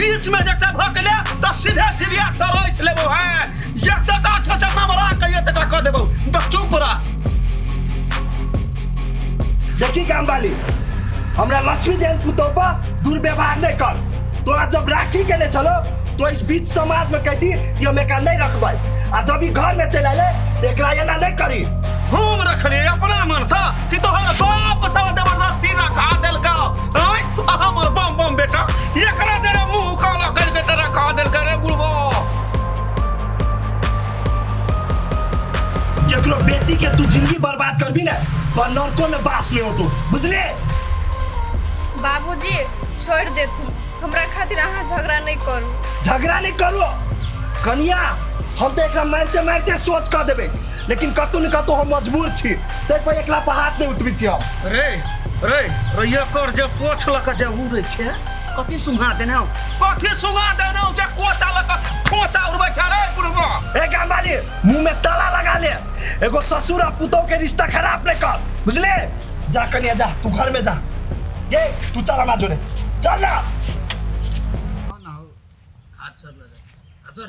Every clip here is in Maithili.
बीच में जटा भकले त सीधे चिड़िया तरस लेबो हैं एक तटा छ छ नमरा के एक तटा क देबो त चुप रह देखी काम वाली हमरा लक्ष्मी जैन पुतोह पर दुर्व्यवहार नहीं कर तोरा जब राखी के ले चलो तो इस बीच समाज में कह दी कि हम एकरा नहीं रखबै आ जब ई घर में चले ले तो एकरा एना नहीं करी हम रखले अपना मन से कि तोहर बाप सब जबरदस्ती रखा देलका आय हमर बम बम बेटा एकरा जरा मुंह काला करके तेरा खा देल करे बुढ़वा केकरो बेटी के तू जिंदगी बर्बाद करबी ना तो नरको में बास में हो तू बुझले बाबूजी छोड़ दे तू हमरा खातिर अहाँ झगड़ा नहीं करू झगड़ा नहीं करो कनिया हम तो एकरा मारते मारते सोच कर देबे लेकिन कतौ ने कतौ हम मजबूर छी ताहि पर एकला पर हाथ नहीं उठबी छी हम रे रे रैया कर जे पोछ लक जे उड़े छे कथी सुहा देने हो कथी सुहा देने हो जे कोचा लक कोचा उड़बे छे रे बुढ़बा ए गामवाली मुंह में ताला लगा ले एगो ससुर आ पुतौ के रिश्ता खराब नहीं कर बुझले जा कनिया जा तू घर में जा ये तू चल हमारा जोरे चल ना हाथ छोड़ ले हाथ छोड़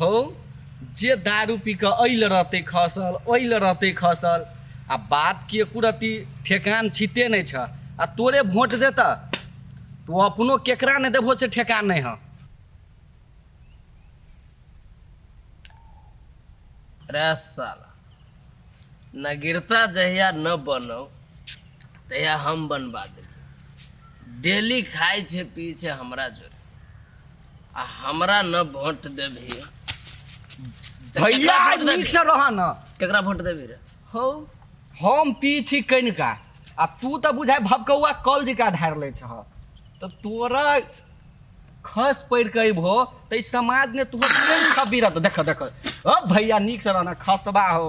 हौ जे दारू पी कऽ एहि लए रहतै खसल ओहि लए रहतै खसल आ बात के कुरती ठेकान छिते नहि छ आ तोरे वोट देता तू अपनो केकरा नहि देबहो से ठेकान नहि हँ रे साला नगीरता जहिया न बनौ तहिया हम बनबा देलियै डेली खाइ छै पी छै हमरा जोरे आ हमरा न वोट देबही तऽ भैया केकरा आज वोट देबही? नीक से रह न केकरा वोट देबही रे हौ हम पी छी कनिका आ तू तऽ बुझाय भबकौआ कल जिका ढार ले छह तऽ तोरा खस पड़ के अयबहो तऽ ई समाज ने तू सब बिरत देख देख ओ भैया नीक से रहना खसबा हो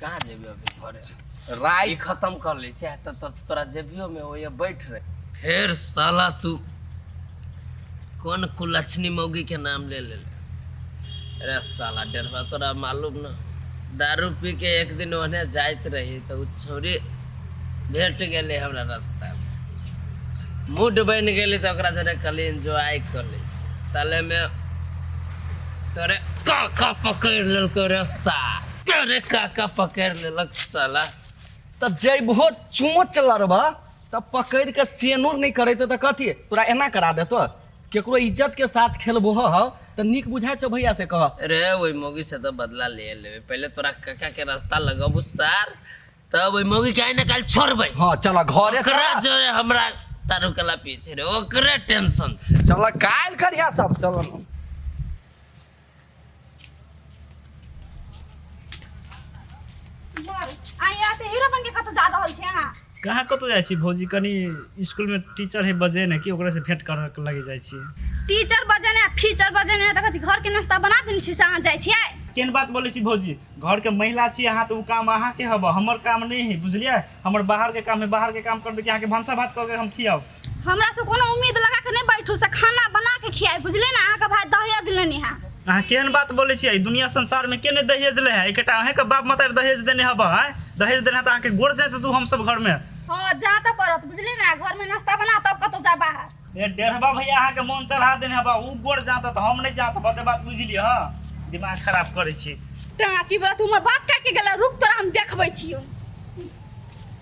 कहाँ जेबी अभी घरे से राय खत्म कर ले चाहे तो तो, तोरा जेबियो में वो ये बैठ रहे फिर साला तू कौन कुलक्षणी मौगी के नाम ले ले अरे साला डेढ़वा तोरा मालूम ना दारू पी के एक दिन ओने जाइत रही तो उ छोरी भेट गेले हमरा रास्ता में मूड बन गेली तो ओकरा जरे कल एंजॉय कर ले तले में तोरे का का पकड़ लेलको रे साला अरे काका पकड़ लेलक साला तब जैबहो चोच लड़बा तब पकड़ के सेनूर नहीं करे तो कथी तोरा एना करा देतो केकरो इज्जत के साथ खेलबो हो तो निक बुझाय छो भैया से कह अरे वही मोगी से तो बदला ले लेबे पहले तोरा काका के रास्ता लगबू सार तब वही मोगी के ना काल छोड़बे हाँ चला घरे ओकरा जोरे हमरा तारू कला पीछे रे ओकरे टेंशन से चला काल करिया सब चला आ यहाँ तो हीरो बन के कतौ जा रहल छै अहाँ कहाँ कतौ जाइ छी भौजी कनी स्कूल में टीचर है बजे ने कि ओकरा से भेंट कर लगे जाइ छी टीचर बजे ने फीचर बजे ने तखन घर के नाश्ता बना देने छी से अहाँ जाइ छियै केन बात बोले छी भौजी घर के महिला छी अहाँ तो उ काम अहाँ के हब हमर काम नहीं है बुझलिए हमर बाहर के काम है बाहर के काम करबे कि अहाँ के भंसा भात करके हम खियाब हमरा से कोनो उम्मीद लगा के नहीं बैठू से खाना बना के खियाई बुझले ना अहाँ के भाई दहेज लेने है अहाँ केहन बात बोलै छियै दुनिया संसार में के नहि दहेज लै है एकटा अहें के बाप माता दहेज देने हब है दहेज देने है तऽ अहाँके गोड़ जाइत तू हम सब घर में हाँ जा तो पड़त बुझले ना घर में नाश्ता बना तब कतौ जा बाहर ए डेढ़बा भैया अहाँके मोन चढ़ा देने हबा ऊ गोड़ जात तऽ हम नहि जात बते बात बुझलियै हँ दिमाग खराब करै छी टाटी बला तू हमर बात काट के गेला रुक तोरा हम देखबै छियो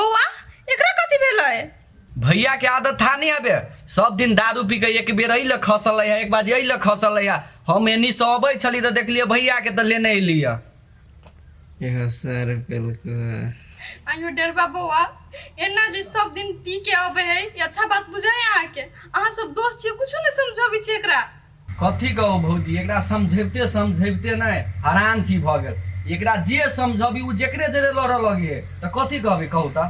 बौआ एकरा कथी भेलै भैया के आदत था नहीं आबे सब दिन दारू पी के एक बेर अल खसल है एक बार अल खसल है हम एनी से अबै छली तो देखलिए भैया के तो लेने अलिय एहो सर पेलको आयो डरबा बौआ एना जे सब दिन पी के अबे है ई अच्छा बात बुझे है अहाँ के अहाँ सब दोस्त छियै कुछो नहीं समझबै छियै एकरा कथी कहू भौजी एकरा समझैबते समझैबते ने हरान छी भऽ गेल एकरा जे समझबी ओ जकरे जरे लड़ऽ लगे तऽ कथी कहबी कहू तऽ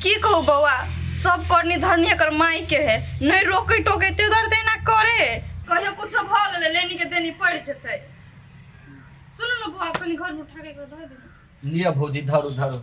की कहू बौआ सब करनी धरनी एकर माय के है नहि रोके टोके ते दर तेना करे कहियो कुछो भ गेले लेनी के देनी पड़ जेते सुनू ने बौआ कनी घर में उठा के एकरा धर दे लिअ भौजी धरू धरू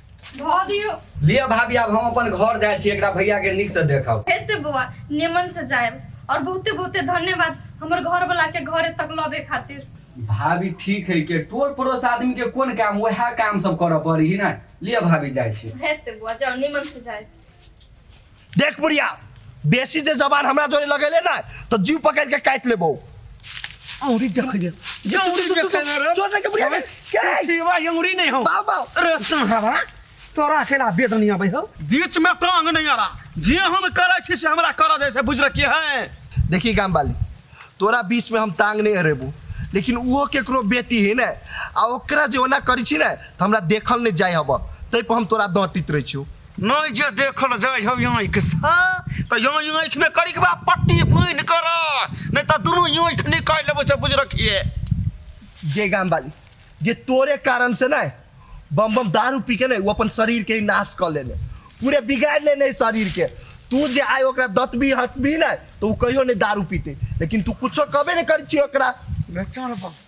धऽ दियौ लिअ भाभी आब हम अपन घर जाइ छी एकरा भैया के नीक से देखब हेते बौआ निमन से जायब और बहुते बहुते धन्यवाद हमर घर वाला के घरे तक लबे खातिर भाभी ठीक है के टोल पड़ोस आदमी के कोन काम वह काम सब करऽ पड़ी ना लिअ भाभी जाइ छी हेते बौआ जाओ निमन से जायब देख बुढ़िया बेसी जे जबान हमरा जोरे लगेले ना तो जीव पकड़ के काट लेबो औरी देख ले औरी देख ले रे जोर के बुढ़िया के जीवा औरी नहीं हो बाबा रे तुम्हारा तोरा अकेला बेद नहीं आबै हो बीच में टांग नहीं आ रहा जे हम करे छी से हमरा कर दे से बुझ रखी है देखी गाम वाली तोरा बीच में हम टांग नहीं हरेबू लेकिन वो केकरो बेटी है ना आ ओकरा जे ओना करी छी ना तो हमरा देखल नहीं जाय हब तै पर हम तोरा दटित रही छी नहि जे देखल जाइ हौ आँखिसँ तऽ यो आँखिमे करिकबा पट्टी बान्हि कर नहि तऽ दुनू आँखि निकालि लेबो से बुझ रखिए गे गाम वाली जे तोरे कारण से ना बम बम दारू पी के ना वो अपन शरीर के ही नाश कर लेने पूरे बिगाड़ लेने शरीर के तू जे आय ओकरा दतबी हटबी ना तो वो कहियो नहीं दारू पीते लेकिन तू कुछो कबे नहीं कर छी ओकरा चल बम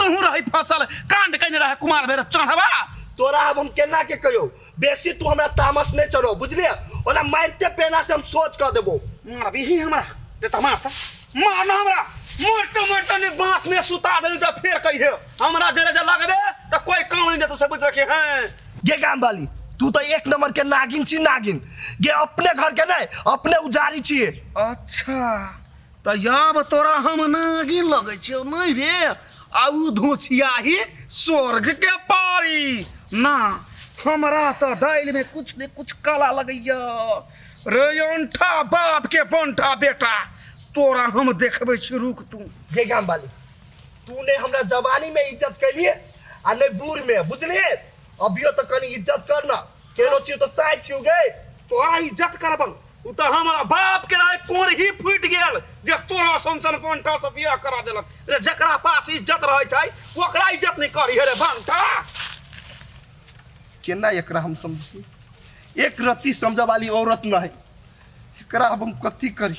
तहूँ रही फसल कांड कने रहे कुमार भैरव चढ़वा तोरा अब हम केना के कहियो बेसी तू हमरा तामस नहीं चढ़ो बुझलिए ओना मारते पेना से हम सोच कर देबो मार भी ही हमरा ते त मार त मार ना हमरा मोटे मोटे ने बांस में सुता दे त फिर कही है हमरा जरे जे लगबे त कोई काम नहीं देतो से बुझ रखे हैं गे गाम वाली तू तो एक नंबर के नागिन छी नागिन गे अपने घर के नहीं अपने उजारी छिए अच्छा तऽ याब तोरा हम नागिन लगै छियौ नहि रे आ ओ धोछियाही स्वर्गके पारी ना हमरा तऽ दालिमे कुछ ने कुछ काला लगैया रे अंठा बापके बंठा बेटा तोरा हम देखबै छी रुक तू जे गाम वाली तू ने हमरा जवानी में इज्जत कैलिए आ ने बूढ़ में बुझलिए अभियो तो कनी इज्जत करना केलो छी तो साय छी गे तो आ इज्जत करबन उ तो हमारा बाप के राय कोर ही फूट गेल जे तोरा संसन पंठा से बियाह करा देलक रे जकरा पास इज्जत रहै छै ओकरा इज्जत नहीं करी हे रे भंटा केना एकरा हम समझी एक रत्ती समझे वाली औरत नहीं एकरा अब हम कथी करी